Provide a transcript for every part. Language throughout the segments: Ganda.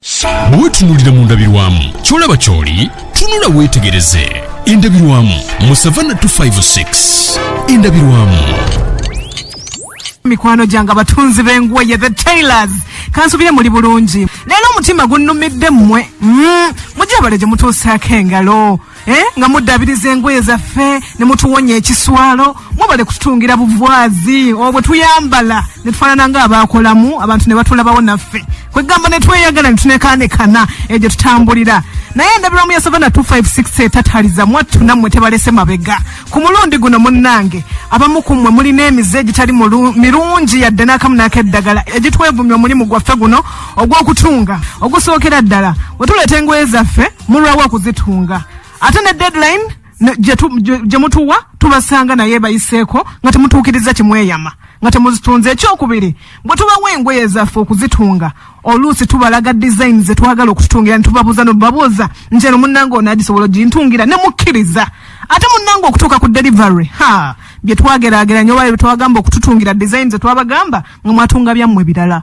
bwe wetunuulira mu ndabirwamu kyolaba kyoli tunula weetegereze endabirwamu mu savanna 256 endabirwamu mikwano gyange abatunzi b'engoye the tailors kansubire muli bulungi leero omutima gunnumidde mmwe mm, mujabale gye mutuusaako engalo Eh, nga muddabiriza engoye zaffe ne mutuwonya ekiswalo mwebale kututungira buvwazi obwo oh, tuyambala ne tufaanana nga abaakolamu abantu ne batulabawo naffe kwegamba ne tweyagala ne tunekaanekana egyo tutambulira naye endabirwamu ya savana 256 etataliza mwattu nammwe tebalese mabega ku mulundi guno munnange abamu ku mmwe mulina emize egitali mirungi yadde n'akamu n'akeddagala egitwevumya omulimu gwaffe guno ogw'okutunga ogusookera ddala wetuleeta engoye zaffe mulwawo okuzitunga ate ne deadline ne- gye tu- gye gye mutuwa tubasanga naye bayiseeko nga temutuukiriza kimweyama nga temuzitunze ekyokubiri bwe tubawa engoye zaffe okuzitunga oluusi tubalaga design ze twagala okututungira ne tubabuuza nobabuuza nti eno munnange ono agisobola ogintungira ne mukkiriza ate munnange okutuuka ku delivery ha bye twagerageranya oba bye twagamba okututungira design ze twabagamba nga mwatunga byammwe birala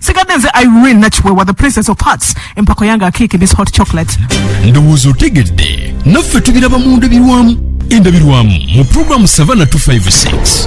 sigadde nze irene nakiwewa the princess of hearts empako yange akiiki this hot chocolate ndowooza otegedde naffe tubiraba mu ndabirwamu endabirwamu mu pulogulaamu savana 256